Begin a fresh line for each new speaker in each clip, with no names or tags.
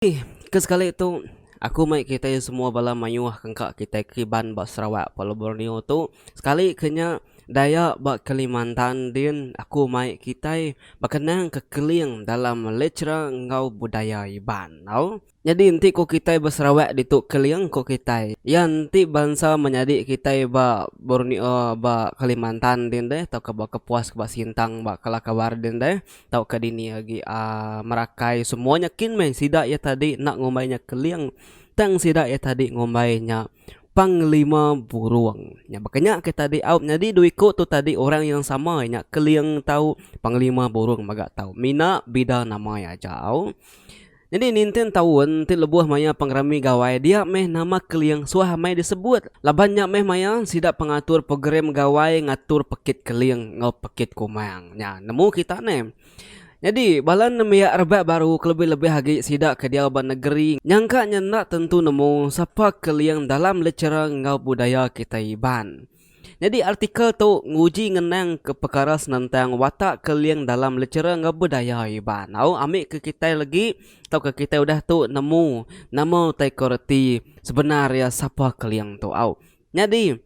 Ih, ke sekali tu aku mai kitai semua bala mayuh ke engka kitai kiban ba Sarawak pelabuh Borneo tu, sekali ke nya Dayak ba Kalimantan din aku mai kitai bekenang ke keling dalam lechera enggau budaya Iban tau. Nyadi enti ko kitai ba Sarawak ditu keling ko kitai, iya enti bansa menyadi kitai ba Borneo ba Kalimantan din deh tauka ba Kepuas ba Sintang ba Kelakawar din deh tauka dini agi a merakai semua nya kin meh sida iya tadi enda ngumbai nya keling tang sida iya tadi ngumbai nya panglima burung nya baka nya ke tadi au nyadi dua iko tu tadi orang yang sama nya keling tau panglima burung mega tau mina bida nama iya ajau. Nyadi ninting taun ti lebuh maya pengerami Gawai dia meh nama Keling suah amai disebut laban nya meh maya sida pengatur program Gawai ngatur Pekit Keling enggau Pekit Kumang nya nemu kita neh. Nyadi bala nembiak rebak baru kelebih-lebih agi sida ke diau ba negeri nyangka nya enda tentu nemu sapa Keling dalam lechera enggau budaya kitai Iban. Nyadi artikel tu nguji ngenangka pekara senentang watak keling dalam lechera enggau budaya Iban. Au ambika kitai legi tauka kitai udah tu nemu nama utai ko reti sebenar iya sapa keling tu. Au nyadi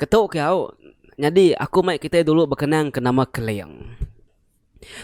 ketu ke au nyadi aku mai kitai dulu bekenang ke nama keling.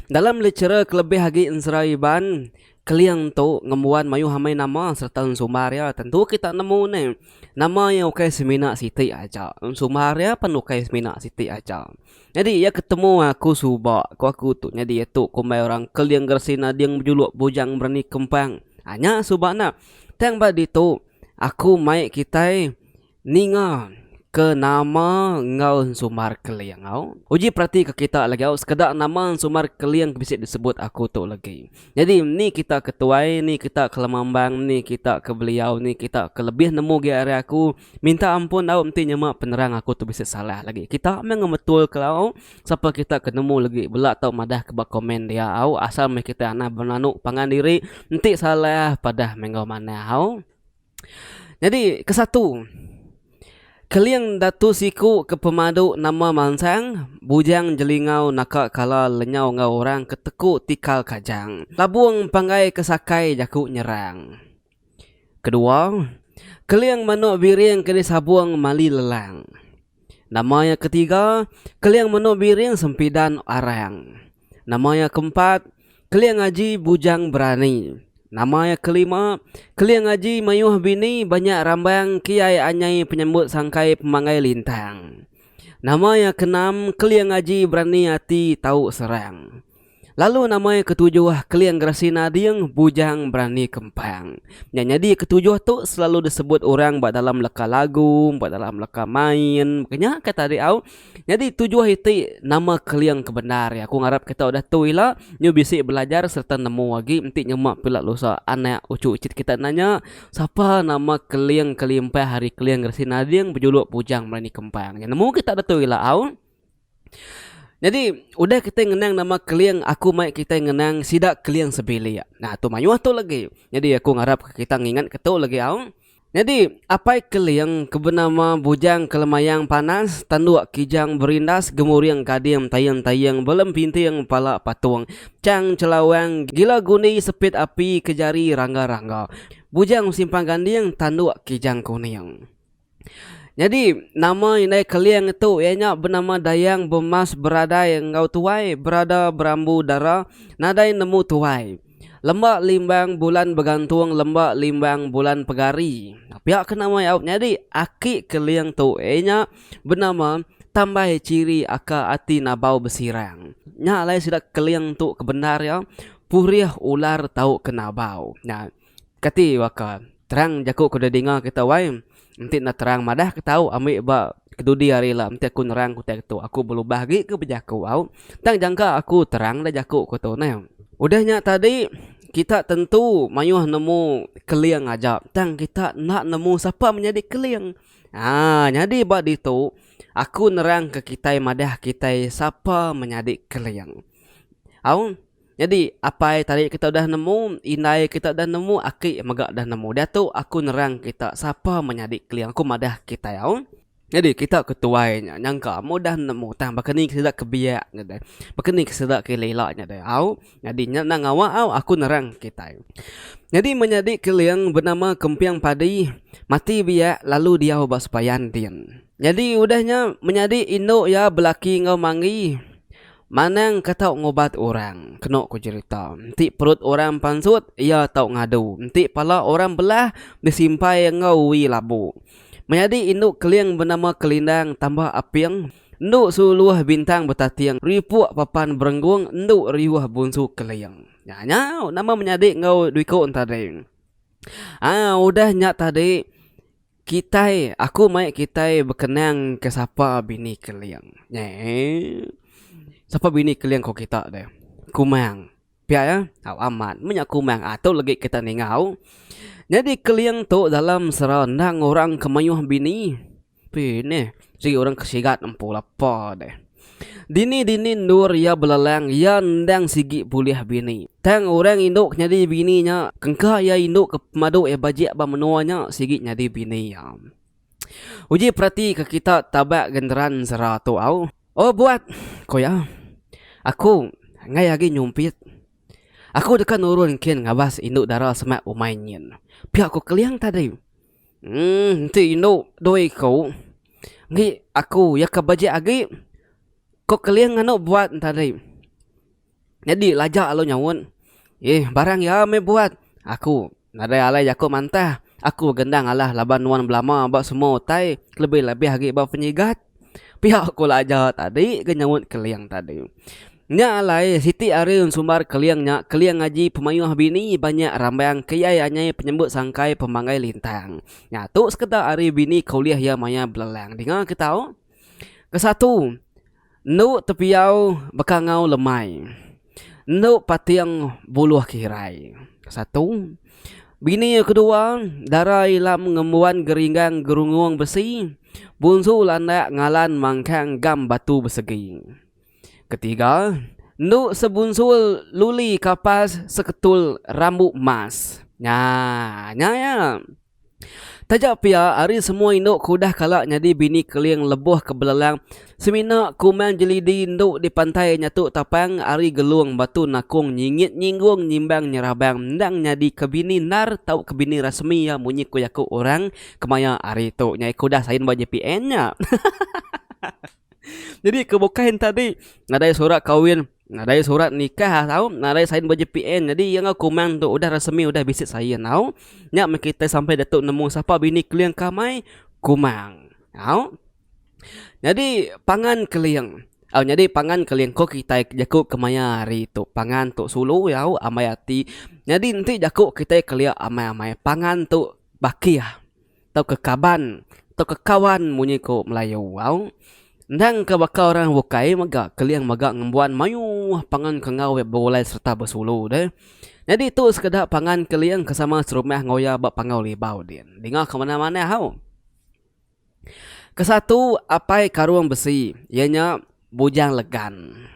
Dalam litera kelebih agi ensera Iban, Keling tu ngembuan mayuh amai nama sereta ensumbar iya. Tentu kita nemu ne nama iya ukai semina siti aja, ensumbar iya pun ukai semina siti aja. Nyadi iya ketemu aku suba, ku aku tu nyadi iya tu kumbai orang Keling geresi nading bejuluk bujang berani kempang. Nya suba nya. Tang ba ditu aku mai kitai. Ninga ke nama enggau ensumbar keling au. Uji peratika kita lagi au sekeda nama ensumbar keling ke bisi disebut aku tu legi. Nyadi ni kita ke tuai, ni kita ke lemambang, ni kita ke beliau, ni kita ke lebih nemu agi ari aku. Minta ampun au enti nyema penerang aku tu bisi salah legi. Kita meh ngemetul ke au. Sapa kita ke nemu legi bela tau madah ke ba komen dia au asal meh kita anah benanu pangan diri enti salah padah meh enggau manah au. Nyadi ke satu, keling datu siku ke pemadu nama mansang bujang jelingau naka kala lenyau enggau orang ke teku tikal kajang labung panggai ke sakai jaku nyerang. Kedua, keling manuk biring ke disabung mali lelang. Nama iya ketiga, Keling menu biring sempidan arang. Nama iya keempat, Keling aji bujang berani. Nama iya kelima, Keling aji mayuh bini banyak rambang kiai anyai penyambut sangkai pemanggai lintang. Nama iya keenam, Keling aji berani ati tau serang. Lalu nama iya ketujuh, Keling Gerasi Nading, Bujang Berani Kempang. Nya nyadi ketujuh tu selalu disebut orang ba dalam leka lagu, ba dalam leka main. Maka nya kai tadi au. Nyadi tujuh iti nama Keling ke bendar iya. Aku ngarap kita udah tu ila nyu bisi belajar sereta nemu agi enti nyema pila lusa anak uchu icit kita nanya sapa nama Keling ke limpah ari Keling Gerasi Nading bejuluk Bujang Berani Kempang. Nemu kita udah tu ila au. Jadi udah kitai ngenang nama Keling aku mai kitai ngenang sida Keling sebilik. Nah tu mayuh tu lagi. Jadi aku ngarap kita ngingat ke tu lagi au. Jadi apai Keling ke benama Bujang Kelemayang Panas tanduk Kijang Berindas Gemuring Gading Taying Taying Belem Pinting Pala Patung Chang Chelawang Gila Gundi Sepit Api Kejari Rangga Rangga Bujang Simpang Ganding Tanduk Kijang Kuning. Nyadi, nama indai Keling tu iya nya benama Dayang Bemas beradai enggau tuai berada berambu dara nadai nemu tuai. Lembak limbang bulan begantung lembak limbang bulan pegari. Pia ke nama iya nyadi aki Keling tu iya nya benama Tambai Chiri aka ati Nabau Besirang. Nya alai sida Keling tu ke bendar iya Purih Ular tau ke Nabau. Kati baka terang jaku ke deh dinga kita wai enti enda terang madah ke tau ambi ba kedudi hari la enti aku nerang ke utai ke tu aku belubah agi ke bejaku au tang jangka aku terang da jaku ku tu neh. Udah nya tadi kita tentu mayuh nemu keling aja tang kita enda nemu sapa menyadi keling aa nyadi ba ditu aku nerang ke kitai madah kitai sapa menyadi keling au. Nyadi, apai tarik kita udah nemu, indai kita udah nemu, aki mega udah nemu. Diatu aku nerang kita sapa menyadi keling aku madah kitai au. Nyadi, kita ke tuai nya nyangka amu udah nemu tang baka ni ke sida ke biak nya deh. Baka ni ke sida ke ila-ila nya deh au. Nyadi, nya enda ngawa au aku nerang kitai. Nyadi menyadi keling benama Kemping Padi mati biak lalu diau ba sepayan din. Nyadi udah nya menyadi indu iya belaki enggau manggi Manang ka tau ngubat orang, kenu ku jerita. Enti perut orang pansut, iya tau ngadu. Enti pala orang belah, disimpai enggau ui labu. Menyadi indu keling benama Kelindang tambah aping, endu suluh bintang betating ripuk papan berenggung endu riuh bunsu keling. Nya nya nama menyadi enggau dui ku entading. Aa udah nya tadi. Kitai, aku mai kitai bekenang ke sapa bini Keling. Nyeh. Sapa bini Keling ko kita deh. Kumang. Pia ya. Au amat. Meh nya Kumang atu legi kita ningau. Nyadi Keling tu dalam sera endang orang ke mayuh bini. Pih nih. Sigi orang ke sigat empu lapa deh. Dini dini endur iya belelang iya endang sigi pulih bini. Tang orang indu ke nyadi bini nya engka iya indu ke pemadu iya bajik ba menua nya sigi nyadi bini iya. Uji peratika kita taba genderan sera tu au. Oh buat, ku iya. Aku enggai agi nyumpit. Aku deka nurun kin ngabas indu dara semak umai nyin. Pia ku Keling tadi. Enti indu doi ku enggi aku iya ke bejek agi ko keling anu buat tadi nyadi lajak lalu nyaut ye barang iya meh buat aku nadai alai jaku mantah aku gendang alah laban nuan belama ba semua utai kelebih lebih agi ba penyigat. Pia ku Laja tadi ke nyaut Keling tadi. Nya alai siti hari ensumbar Keling nya Keling ngaji pemayuh bini banyak rambang ke iya anyai penyambut sangkai pemanggai lintang. Nya tu sekeda hari bini ke ulih iya maya belelang dinga ke tau. Kesatu endu tepiau beka enggau lemai. Endo pating buluh kirai. Satu. Bini iya kedua, dara ilam ngembuan geringgang gerungung besi, bunsu landak ngalan mangkang gam batu besegi. Ketiga. Endo sebunsul luli kapas seketul rambu mas. Nya, nya iya. Taja pia, ari semua indu ke udah kala nyadi bini keling lebuh ke belelang, semina ku Mang Jelidi enda dipantai nyatu tapang ari Gelung batu nakung nyingit nyinggung nyimbang nyerabang endang nyadi ke bini endar tauka bini rasmi iya munyi ku jaku orang kemaya ari tu. Nya iya ke udah sign ba JPN nya. Jadi ke bukai enta di nadai surat kawin, nadai surat nikah tau, nadai sign ba JPN. Jadi iya enggau kumang tu udah resmi udah bisi sign tau. Nya meh kitai sampai ditu nemu sapa bini keling ke amai kumang tau. Jadi pangan keling au nyadi pangan keling ko kitai jaku kemaya hari tu pangan tu sulu au ambai ati. Nyadi enti jaku kitai kelia amai-amai pangan tu bakih. tauka kaban tauka kawan munyi ku melayu au endang ke baka orang bukai mega keling mega ngembuan mayuh pangan ke enggau iya begulai sereta besulu deh nyadi tu sekeda pangan keling ke sama serumah enggau iya ba panggau libau din dinga ke manah manah au kesatu apai karung besi iya nya Bujang Legan.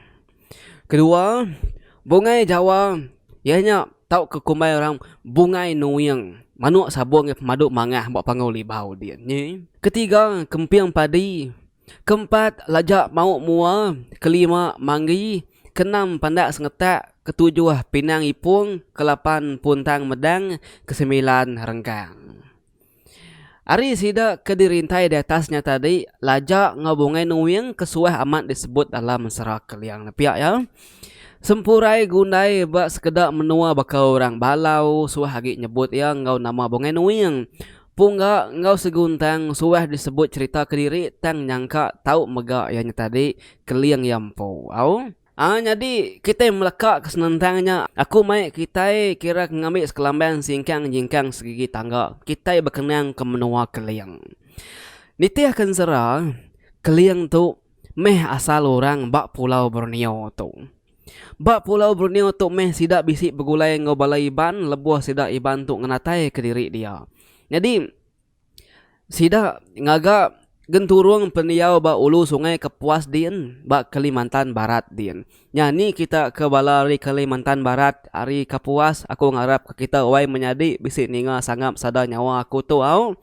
Kedua, Bungai Jawa iya nya tauka kumbai orang Bungai Nuing, manuk sabung iya pemadu mangah ba Panggau Libau diin nyi. Ketiga, Kemping Padi. Keempat, Lajak Mauk Mua. Kelima, Manggi. Keenam, Pandak Sengetak. Ketujuh, Pinang Ipung. Kelapan, Puntang Medang. Kesemilan, Renggang. Ari sida ke dirintai di atas nya tadi Laja enggau Bungai Nuing ke suah amat disebut dalam Sera Keliang nepia iya. Sempurai Gundai ba sekeda menua baka orang Balau suah agi nyebut iya enggau nama Bungai Nuing. Pungga enggau Seguntang suah disebut cherita kediri tang nyangka tau mega iya nya tadi Keling iya empu au. Aa nyadi kitai melekaka senentang nya, aku mai kitai kira ke ngambi sekelamban singkang nyingkang serigi tangga kitai bekenang ke menua Keling. Nitihka ensera, Keling tu meh asal orang ba pulau Borneo tu. Ba pulau Borneo tu meh sida bisi begulai enggau bala Iban lebuh sida Iban tu ngenataika diri dia. Nyadi. Sida ngaga genturung pendiau ba ulu Sungai Kepuas din ba Kelimantan Barat din. Nya ni kita ke bala ari Kelimantan Barat ari Kapuas aku ngarap ka kita wai menyadi bisi ninga sangap sada nyawa aku tu au.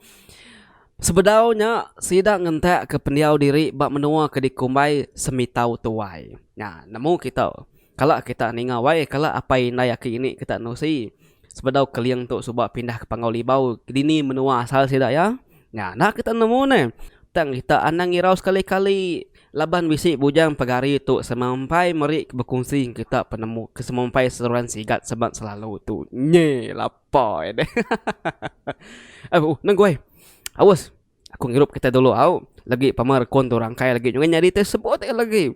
Sebedau nya sida ngentak ke pendiau diri ba menua ke dikumbai Semitau Tuai. Nya nemu kita. Kala kita ninga wai kala apai indai aki ini kita nusi sebedau Keling tu suba pindah ke Panggau Libau dini menua asal sida iya? Nya enda kita nemu neh. Tang kita anang irau sekali-kali laban bisi bujang pegari tu semampai meri bekunsi enggau kita penemu ke semampai seruran sigat sebat selalu tu. Nyi lapai deh hahaha. Au nengku ai. Aus aku ngirup kitai dulu au legi pama rekun tu rangkai legi nyadi te sebut ai legi.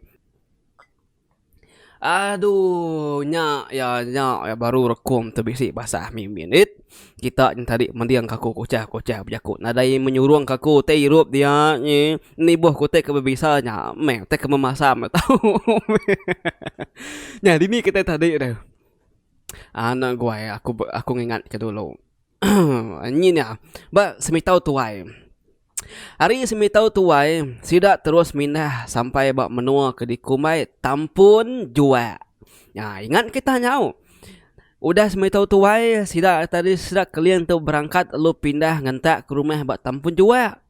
Aduh nya ya nya ya baru rekum tu bisi basa mih minit kita nya tadi mending aku kuchah kuchah bejaku nadai menyurung ka aku ti irup dia nyi nibuh ku ti ke bebisa nya meh ti ke memasam nya tau nya dini kita tadi tu anak guai aku ngingat ke dulu nyi nya ba semitau tuai. Ari semitau tuai, sida terus mindah sampai ba menua ke dikumbai Tampun Juak. Nya ingat kita nyau. Udah semitau tuai, sida tadi sida Keling tu berangkat lalu pindah ngentak ke rumah ba Tampun Juak.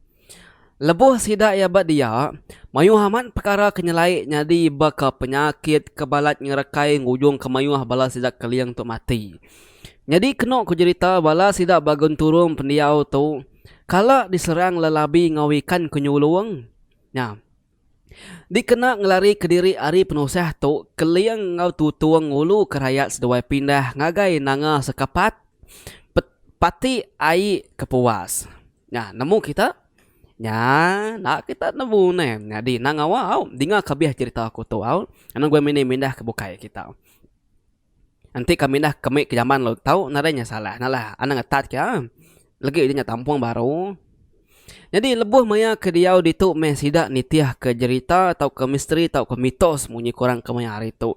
Lebuh sida iya ba dia, mayuh amat pekara ke nyelai nyadi baka penyakit ke balat ngerekai ngujungka mayuh bala sida Keling tu mati. Nyadi kenu ku jerita bala sida ba genturung pendiau tu, Kala diserang lelabi enggau ikan ke nyulung nya. Dikena ngelari kediri ari penusah tu Keling enggau Tutung nguluka rayat seduai pindah ngagai nanga sekapat pe pati ai ke puas. Nya nemu kita nya enda kita nemu neh nyadi nang awa au dinga kabeh cherita aku tu au. Anu gua mini mindah ke bukai kita. Enti kami dah kemik ke jaman lalu tau nadai nya salah nya lah anang atat ke am legi nya tampung baru. Nyadi lebuh maya ke diau ditu meh sida nitih ke jerita tau ke misteri tau ke mitos munyi ke orang ke maya hari tu.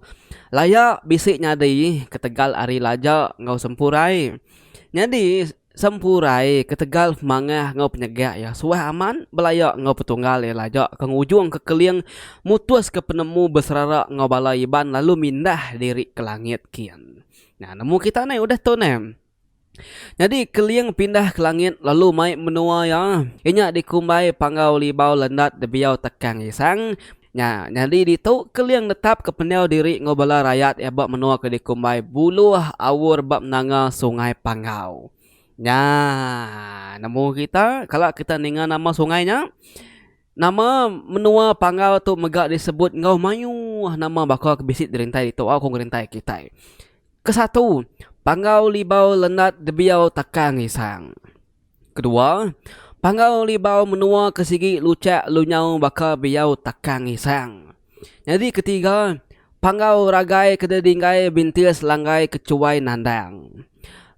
Laya bisi nyadi ketegal ari laja enggau sempurai. Nyadi. Sempurai ketegal mangah enggau penyegak iya suah aman belaya enggau petunggal iya laja ke ngujung ke keling mutuska penemu beserara enggau bala Iban lalu mindah diri ke langit kin. Nya nemu kita neh udah tu neh. Nyadi keling pindah ke langit lalu mai menua iya, inya dikumbai Panggau Libau Lendat Debiau Tekang Isang. Nya nyadi ditu, Keling netapka pendiau diri enggau bala rayat iya ba menua ke dikumbai Buluh Awur ba menanga Sungai Panggau. Nya nemu kita, kala kita ninga nama sungai nya, nama menua Panggau tu mega disebut enggau mayuh nama baka ke bisi dirintai ditu au ko ngerintai kitai. Kesatu, Panggau Libau Lenat Debiau Takang Isang. Kedua, panggau libau menua ke sigi luchak lu nyau baka biau takang isang. Nyadi ketiga, panggau ragai ke didinggai bintis langgai ke chuai nandang.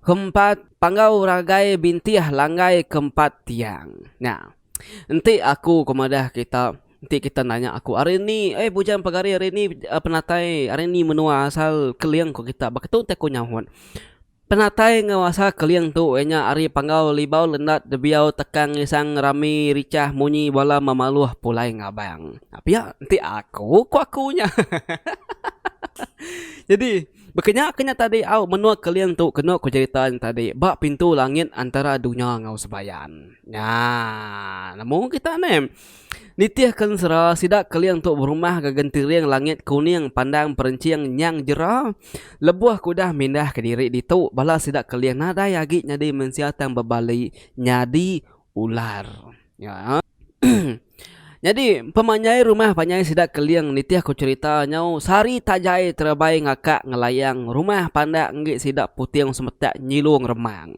Keempat, panggau ragai bintih langgai ke empat tiang. Nya. Enti aku ke madah kita, enti kita nanya aku ari eni ai bujang pegari ari eni penatai ari eni menua asal keling ko kita baka tu nta ku nyaut. Penatai ngawasa keling tu iya nya ari panggau libau lendat debiau tekang ngisang rami richah munyi bala memaluh pulai ngabang. Nya pia enti aku ku aku nya hahaha jadi baka nya ke nya tadi au menua keling tu kenu ku cerita nya tadi ba pintu langit antara dunya enggau sembayan. Nyaa nemu kita neh. Nitih ke ensera, sida keling tu berumah ga gentiring langit kuning pandang perenching nyang jera. Lebuh ke udah mindah ke diri ditu, bala sida keling nadai agi nyadi mensia tang bebali nyadi ular. Nyadi, pemanjai rumah panjai sida keling nitih ke cherita nyau sehari tajai terebai ngakak ngelayang rumah pandak enggi sida puting semetak nyilung remang.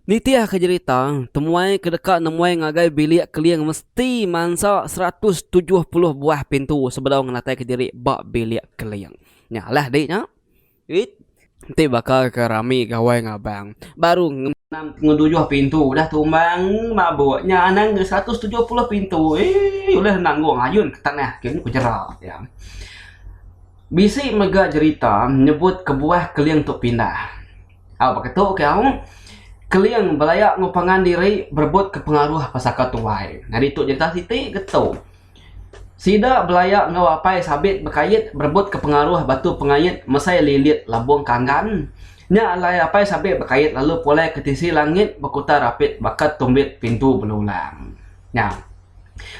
Nitihka jerita, temuai ke deka nemuai ngagai bilik keling mesti mansa seratus tujuh puluh buah pintu sebedau ngenataika diri ba bilik keling. Nya alah dik nya. It. Enti baka ke rami gawai ngabang, baru nge. Anang ke ngedujuh pintu udah tumbang mabuk. Nya anang ke seratus tujuh puluh pintu eii ulih nanggung ayun ke tanah ke ku jera iya. Bisi mega jerita nyebut kebuah keling tu pindah. Au baka tu ke au Keling belaya enggau pangan diri berebutka pengaruh ba saka tuai. Nyadi tu nyerita siti ke tu. Sida belaya enggau apai sabit bekait berebutka pengaruh batu pengait mesai lilit labung kanggan. Nya alai apai sabit bekait lalu pulai ke tisi langit bekuta rapit baka tumbit pintu belulang. Nya.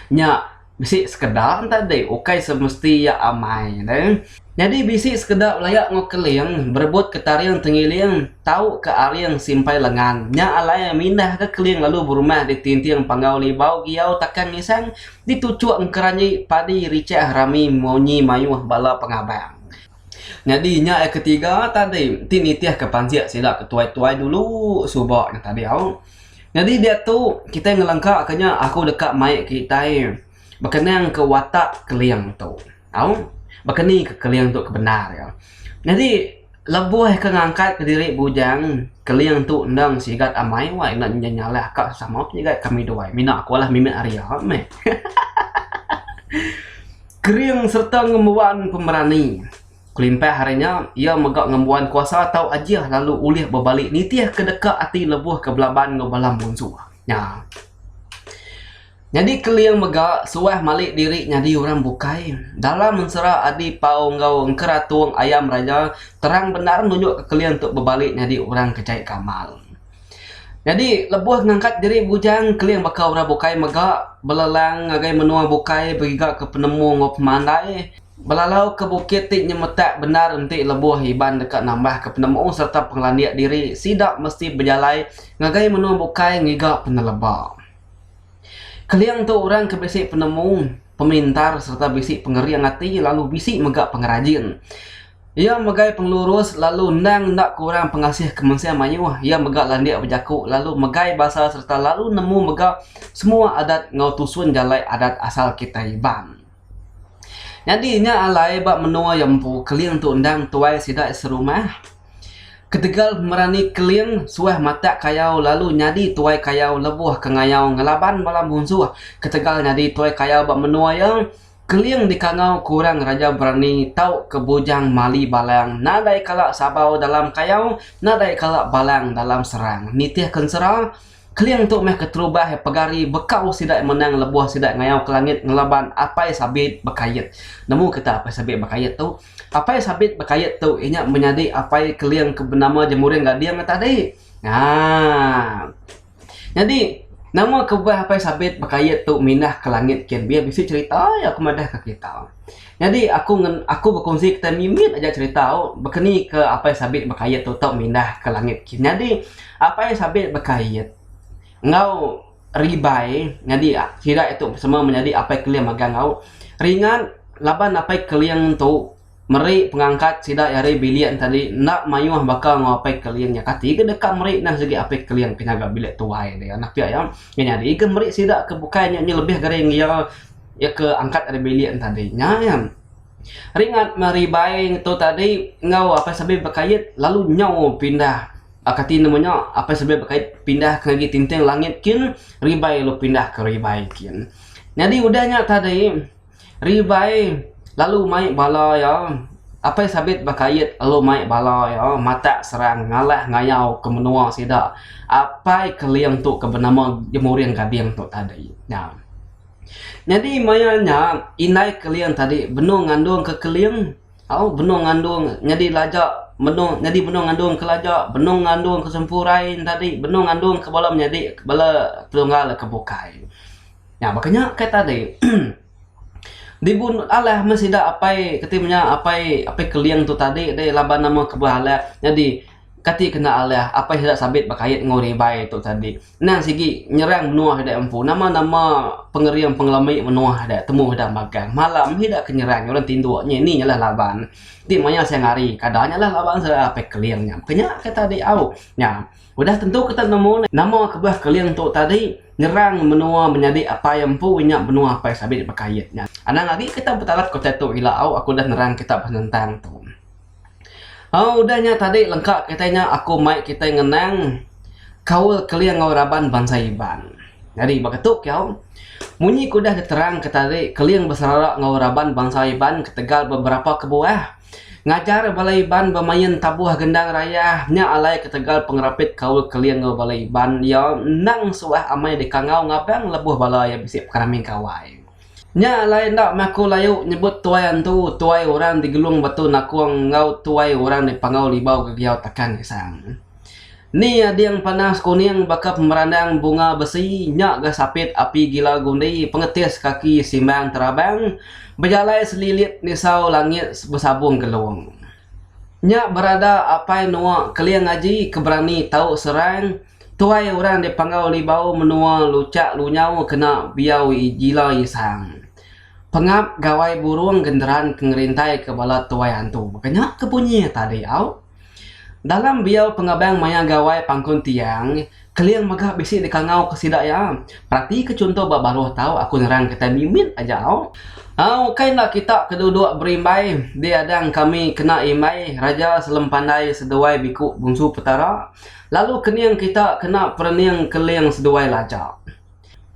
Nya. Bisi sekeda enta di ukai semesti iya amai deh. Nyadi bisi sekeda belaya enggau keling berebut ke taring tengiling tau ke aring simpai lengan. Nya alai mindah ke keling lalu berumah di tinting panggau libau giau takan ngisang di tuchuk engkeranyi padi richah rami munyi mayuh bala pengabang. Nyadi nya iya ke tiga tadi ti nitih ke pansik sida ke tuai tuai dulu suba nya tadi au nyadi diatu kitai ngelengka ke nya aku deka mai kitai bekening ke watak keling tu au bekeni ke keling tu ke bendar iya nyadi lebuh ke ngangkat ke diri bujang keling tu endang sigat amai wai enda nya nyalah ka sesama pun sigat kami duai mina aku mimit ari iya meh. Kering sereta ngembuan pemerani. Kelimpah ari nya, iya mega ngembuan kuasa tau ajih lalu ulih bebali nitihka deka ati lebuh ke belaban enggau bala munsuh nya. Nyadi Kering mega suah malik diri nyadi orang bukai. Dalam ensera Adi Pau enggau Enkeratung Ayam Raja terang bendar nunjukka Kering tu bebali nyadi orang ke jai gamal. Nyadi lebuh ngangkat diri bujang keling baka orang bukai mega belelang ngagai menua bukai begiga ke penemu enggau pemandai belalau ke bukit ti nyemetak bendar enti lebuh Iban deka nambah ke penemu sereta pengelandik diri sida mesti bejalai ngagai menua bukai ngiga peneleba. Keling tu orang ke bisi penemu, pemintar sereta bisi pengering ati lalu bisi mega pengerajin. Iya megai pengelurus lalu endang enda kurang pengasih ke mensia mayuh. Iya mega landik bejaku lalu megai basa sereta lalu nemu mega semua adat enggau tusun jalai adat asal kitai Iban. Nyadi nya alai ba menua iya empu, Keling tu endang tuai sida iya serumah. Ketegal pemerani Keling suah matak kayau lalu nyadi tuai kayau lebuh ke ngayau ngelaban bala munsuh. Ketegal nyadi tuai kayau ba menua iya, Keling dikangau ke orang Raja Berani tauka Bujang Mali Balang nadai kala sabau dalam kayau, nadai kala balang dalam serang. Nitih ke ensera, Keling tu meh keterubah pegari bekau sida menang lebuh sida ngayau ke langit ngelaban Apai Sabit Bekayit. Nemu kita Apai Sabit Bekayit tu? Apai Sabit Bekayit tu inya menyadi apai Keling ke benama Jemuring Gading tadi. Haa. Nyadi nama kebah apai sabit bekayuh tu mindah ke langit kin bih bisi cerita iya ke madah ke kita. Nyadi aku ngen aku bekunsi kitai mimit aja cerita u bekeni ke apai sabit bekayuh tu tau mindah ke langit kin. Nyadi apai sabit bekayuh enggau ribai nyadi sida tu sama menyadi apai keling magang au ringan laban apai keling tu. Meri pengangkat sida iya ari bilik nya tadi enda mayuh baka enggau Apai Keling nya kati ke deka meri neh sigi Apai Keling ke nyaga bilik tuai dia nah pia iya nya nyadi ke meri sida ke bukai nya nya lebih gering iya iya ke angkat ari bilik nya tadi nya iya ringat meh ari ibai tu tadi enggau Apai Sabi Bekait lalu nyau pindah ba kati nemu nya Apai Sabi Bekait pindah ke ngagai Tinting Langit kin ribai lu pindah ke ribai kin nyadi udah nya tadi. Ribai lalu mai bala iya. Apai sabit ba Kayit lalu mai bala iya matak serang ngalah ngayau ke menua sida. Apai Keling tu ke benama Jemuring Gading tu tadi nya. Nyadi maya nya Indai Keling tadi benung ngandung ke Keling au benung ngandung nyadi laja benung nyadi benung ngandung ke laja benung ngandung ke sempurai nya tadi benung ngandung ke bala menyadi bala Terenggau ke bukai. Nya baka nya kai tadi. Dibu ndut alah meh sida apai kati menya apai apai keling tu tadi deh laban nama kebuah alah. Nyadi kati kena alah apai sida sabit bekait enggau orang ibai tu tadi. Endang sigi nyerang menua sida empu nama nama pengering pengelami menua sida temu sida magang. Malam meh sida ke nyerang orang tindu nya nih nya lah laban. Ti maya siang hari kada nya lah laban sida apai keling nya. Baka nya kai tadi au. Nya. Udah tentu kita nemu nama kebuah keling tu tadi ngerang menua menyadi apai empu nya benua apai sabit nya baka ayat nya. Anang agi kita betalap ke utai tu ila au aku udah nerang kita ba senentang tu. Au udah nya tadi lengka kitai nya aku mai kitai ngenang kaul keling enggau raban bansa Iban. Nyadi baka tu kiyau munyi ke udah diterangka tadi keling beserara enggau raban bansa Iban ketegal beberapa kebuah. Ngajar bala Iban bemain tabuh gendang raya nya alai ketegal pengerapit kaul Keling enggau bala Iban iya endang suah amai dikangau ngabang lebuh bala iya bisi pengerami gawai. Nya alai enda maku layu nyebut tuai antu, tuai orang di Gelung Batu Nakong enggau tuai orang di Panggau Libau Gegiau Takang Isang. Ni ading panas kuning baka pemerandang bunga besi nya ga sapit api gila gundi pengetis kaki simbang terabang bejalai selilit nisau langit besabung gelung. Nya berada apai nuwa keling aji ke berani tau serang tuai orang dipanggau libau menua luchak lunyau kena biau gila isang. Pengap gawai burung genderan ke ngerintaika bala tuai antu. Baka nya ke bunyi tadi au. Dalam biau pengabang maya gawai pangkun tiang, keling mega bisi dikangauka sida iya. Peratika chunto ba baruh tau aku nerang kitai mimit aja au. Au ukai enda kita ke duduk berimbai di adang kami kena imbai Raja Selempandai seduai Biku Bungsu Petara, lalu kening kita kena perening keling seduai laja.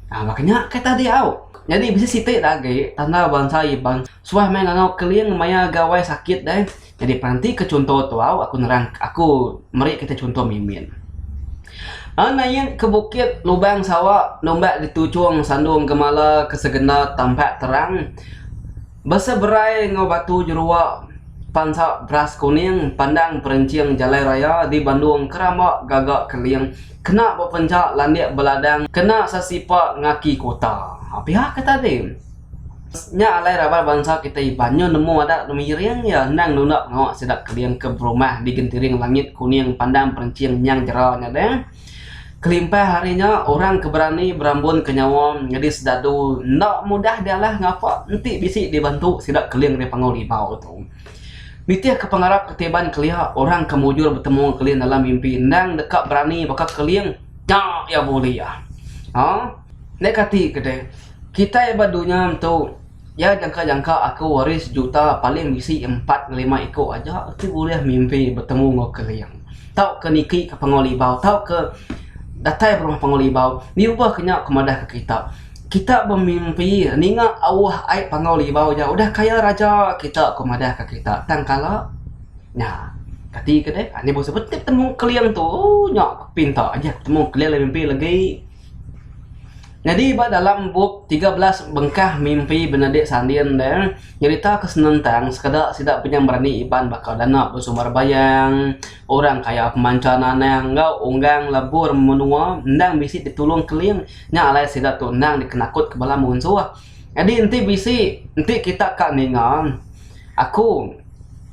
Baka nya kai tadi au. Nyadi bisi siti da agi tanda bansa Iban suah meh ngangau keling maya gawai sakit deh. Nyadi peranti ke chunto tu au aku nerang aku meri kita chunto mimin. An nain ke bukit lubang sawa numbak dituchong sandung gemala ke segenda tampak terang. Beseberai enggau batu jerua pansa beras kuning pandang perenching jalai raya di Bandung keramba gaga keling kena bepencha landik beladang kena sesipa ngaki kota. Pia ke tadi nya alai raban bansa kitai Iban nyu nemu adat miring iya endang nunda pengawa sida keling ke berumah di gentiring langit kuning pandang perenching nyang jera nya deh. Kelimpah ari nya, orang ke berani berambunka nyawa nyadi sedadu enda mudah dialah ngapa enti bisi dibantu sida keling ari panggau ribau tu. Nitihka pengarap ke tiban kelia, orang ke mujur betemu keling dalam mimpi endang deka berani baka keling nya iya bulih. Haa. Nda kati ke deh, kitai ba dunya tu. Iya nyangka-nyangka aku waris juta paling bisi empat ngelima iku aja ti bulih mimpi betemu enggau Uncle Ling tauka niki ka Panguai Libau tauka datai ba rumah Panguai Libau ngubah ka nya aku madah ka kita, kita bemimpi ninga auh ai Panguai Libau ja udah kaya raja kita ku madah ka kita tang kala nya kati ke deh anih bauh seh betemu Uncle Ling tu ooh nya pinta aja aku betemu Uncle Ling mimpi legi. Nyadi ba dalam bup tiga belas bengkah mimpi benadik sanding deh nyerita ke senentang sekeda sida penyam berani iban baka dana besumber bayang, orang kaya pemancha nanang enggau unggang lebur menua endang bisi ditulung keling nya alai sida tu endang dikenakut ke bala munsuh. Nyadi enti bisi enti kita ka ninga aku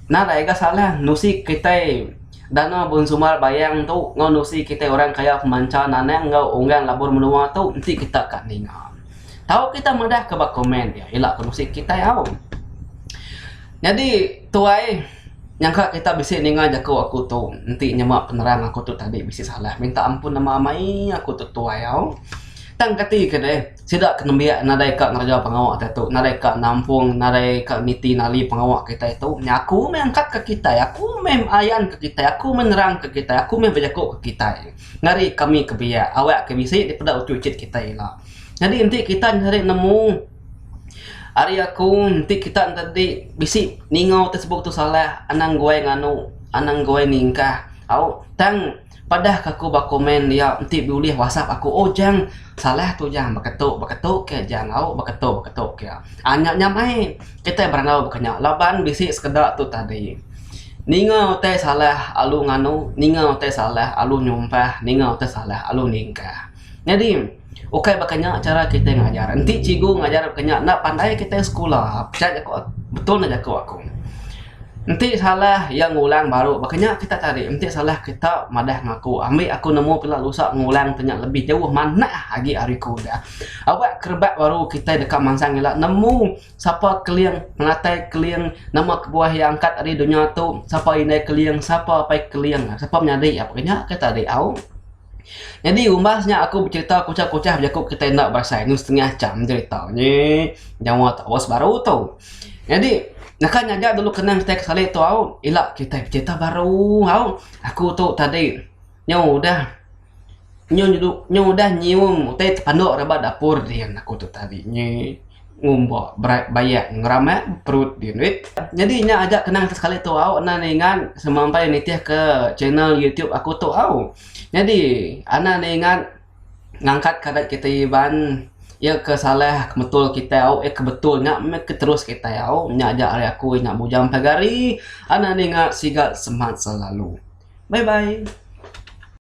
nadai ga salah nusi kitai. Dana Bun Sumal Bayang tu enggau nusi kitai orang kaya pemancha Nanang enggau Onggang Labur Menua tu enti kita ka ninga. Tau kita madah ka ba komen dia ila ka nusi kitai au. Nyadi tuai nyangka kita bisi ninga jaku aku tu enti nyema penerang aku tu tadi bisi salah minta ampun nama amai aku tu tuai au. Tang kati ke deh. Sida ke nembiak nadai ka ngereja pengawa kitai tu, nadai ka nampung, nadai ka niti nali pengawa kitai tu, nya aku meh angkat ka kitai, aku meh ayan ka kitai, aku meh nerang ka kitai, aku meh bejaku ka kitai. Ngari kami ke biak, awak ke bisi dipeda uchu ichit kitai ila. Nyadi enti kita nyadi nemu ari aku enti kita nyadi bisi ningau tesebut tu salah, anang guai nganu, anang guai ningkah, au tang. Padah ke aku ba komen dia enti bulih whatsapp aku oh jang salah tu jang baka tu baka tu ke jang au baka tu baka tu ke. Aaa nya nya meh kitai berengau baka nya laban bisi sekeda tu tadi ninga utai salah alu nganu ninga utai salah alu nyumpah ninga utai salah alu ningkah. Nyadi. Ukai baka nya chara kitai ngajar. Enti cikgu ngajar baka nya enda pandai kitai sekula. Pia jaku aku, betul ne jaku aku. Enti salah iya ngulang baru baka nya kita cari. Enti salah kita madah ngaku. Ambi aku nemu pila usak ngulang ti nya lebih jauh manah agi ari ku udah. Aba ke rebak baru kitai deka mansang ila nemu sapa keling penatai keling nama kebuah iya angkat ari dunya tu. Sapa indai keling, sapa apai keling, sapa menyadi iya baka nya ke tadi au. Nyadi umbas nya aku becerita kuchah-kuchah bejaku kitai enda berasai ngau setengah cham cerita nyi nyawa tau sebaru tu. Nyadi naka nyaga dulu kenang kitai ke salik tu au ila kitai becerita baru au aku tu tadi nyau udah nyau udah nyium utai tepandu rebak dapur din aku tu tadi nyi. ngumba berat bayak ngeramak perut dia duit nyadi nya aja kenang ke sekali tu au enda ninga semampai nitih ke channel YouTube aku tu au nyadi enda ninga ngangkat ke adat kita Iban iya ke salah ke betul kita au iya ke betul nya meh ke terus kita au nya aja ari aku inya bujang pagar ari enda ninga siga semat selalu bye bye.